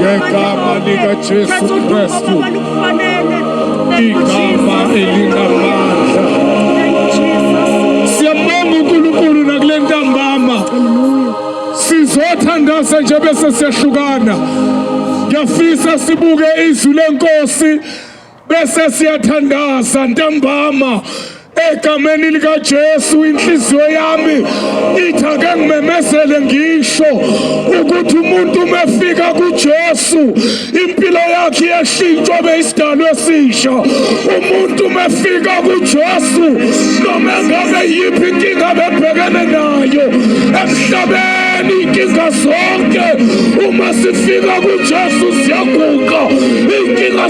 ngegama likaJesu Kristu, igama elinamandla. Siyabonga uNkulunkulu nakule ntambama, sizothandaza nje bese siyahlukana. Ngiyafisa sibuke izwi lenkosi Bese siyathandaza ntambama egameni likaJesu inhliziyo yami ithi ake ngimemezele ngisho ukuthi umuntu umefika kuJesu impilo yakhe yeshintshwa beyisidalo esisha umuntu umefika kuJesu noma ngabe yiphi inkinga bebhekene nayo emhlabeni inkinga zonke uma sifika kuJesu siyaguqa inkinga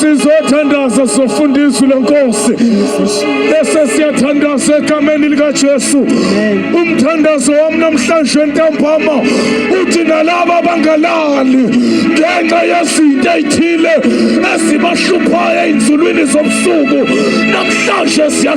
sizothandaza sizofunda izwi lenkosi bese siyathandaza egameni likajesu umthandazo wami namhlanje entambama uthi nalaba abangalali ngenxa yezinto ey'thile ezibahluphayo ey'nzulwini zobusuku namhlanje siya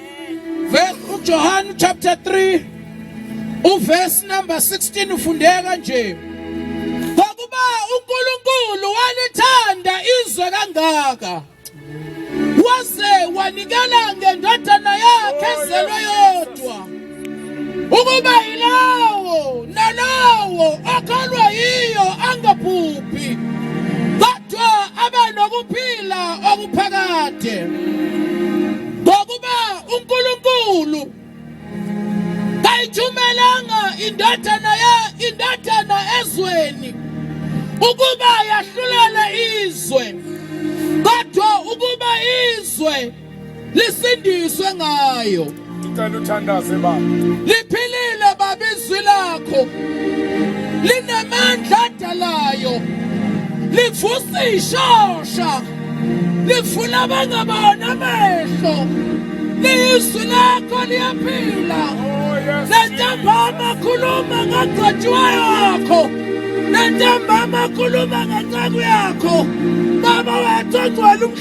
uJohane chapter 3 uverse number 16 ufundeka nje ngokuba uNkulunkulu walithanda izwe kangaka waze wanikela ngendodana yakhe ezelwe yodwa ukuba yilowo nalowo okholwa yiyo angaphuphi kodwa abe nokuphila okuphakade ngokuba uNkulunkulu kayithumelanga indodana ya indodana ezweni ukuba yahlulele izwe kodwa ukuba izwe lisindiswe ngayo ngicela uthandaze baba liphilile baba izwi lakho linamandla adalayo livusa ishosha livula abangabona amehlo lizwi lakho liyaphila nentambama khuluma ngagcotshwayo wakho nentambama khuluma ngenceku yakho baba wethu ogcwele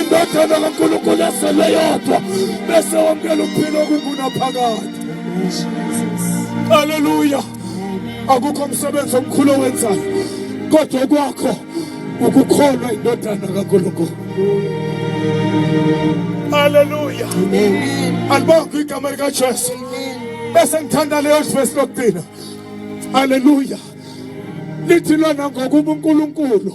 indodana kaNkulunkulu esele yodwa bese wamukela ukuphila okungunaphakade haleluya akukho msebenzi omkhulu owenzayo kodwa kwakho ukukholwa indodana kaNkulunkulu haleluya alibonga igama likaJesu bese ngithanda leyo verse lokugcina haleluya lithi lona ngokuba uNkulunkulu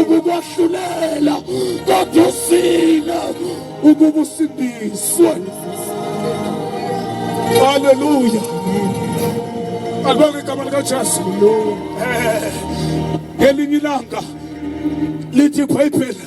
ukukwahlulela kodwa usile ukuba usindiswe haleluya alibonge igama likajesu eh, ngelinye ilanga lithi ibhayibheli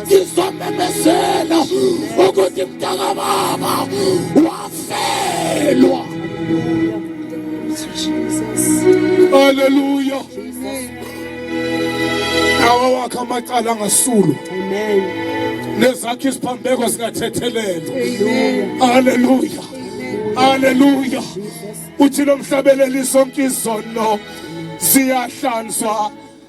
ngizomemezela ukuthi mntakababa wafelwa haleluya nawa wakhe amacala angasulwa nezakhe isiphambeko zingathethelelwa haleluya haleluya uthi lomhlabeleli sonke izono siyahlanzwa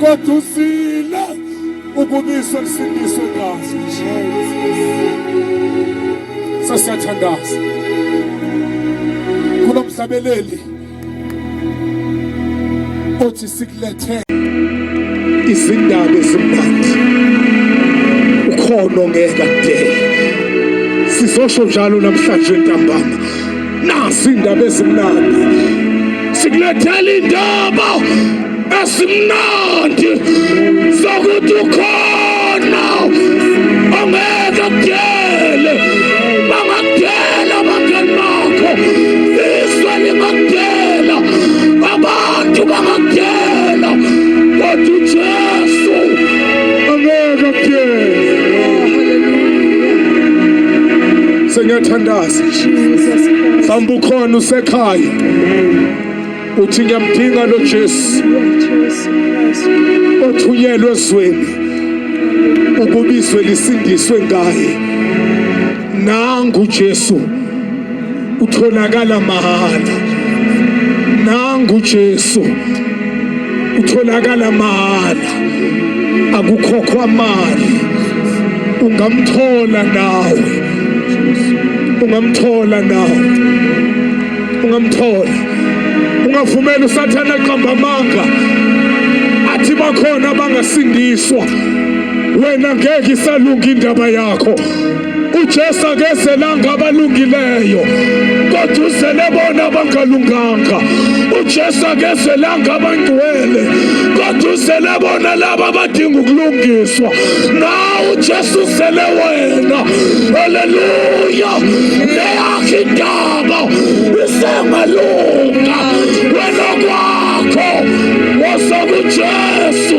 kodwa usile ukubiswa kusindiswe ngaso sasiyathandaza kulo mhlabeleli othi sikulethe izindaba ezimnandi ukhona ongeka kudela sizosho njalo namhlanje ntambama nasi indaba ezimnandi sikulethela indaba esimnandi sokuthi ukhona ongeke kudele bangakudela abangani bakho izwe lingakudela abantu bangakudela kodwa ujesu angeke kudele sengiyathandaza mhlawumbe ukhona usekhaya uthi ngiyamdinga lo Jesu othunyelwe ezweni ukubizwe lisindiswe ngaye nangu Jesu utholakala mahhala nangu Jesu utholakala mahhala akukhokhwa mali ungamthola nawe ungamthola nawe ungamthola ungavumela usathane aqamba amanga athi bakhona abangasindiswa wena ngeke isalunga indaba yakho uJesu akezelanga abalungileyo kodwa uzele bona abangalunganga uJesu akezelanga abangcwele kodwa uzele bona laba abadinga ukulungiswa na uJesu uzele wena haleluya leyakhe indaba isengalunga wena kwakho wosa kuJesu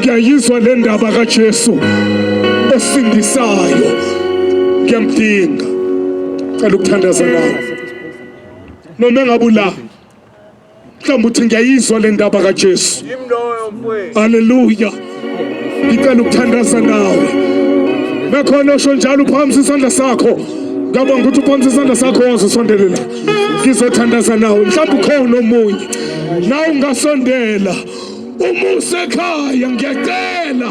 ngiyayizwa le ndaba kaJesu osindisayo ngiyamdinga cela ukuthandaza nawe noma engabe ula mhlawumbe uthi ngiyayizwa le ndaba kaJesu haleluya ngicela ukuthandaza nawe nakhona osho njalo uphakamisa isandla sakho ngiyabonga ukuthi uphakamisa isandla sakho waze usondele la ngizothandaza nawe mhlawumbe ukhona omunye nawe ungasondela Uma usekhaya ngiyacela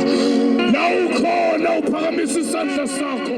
la ukhona uphakamisa isandla sakho.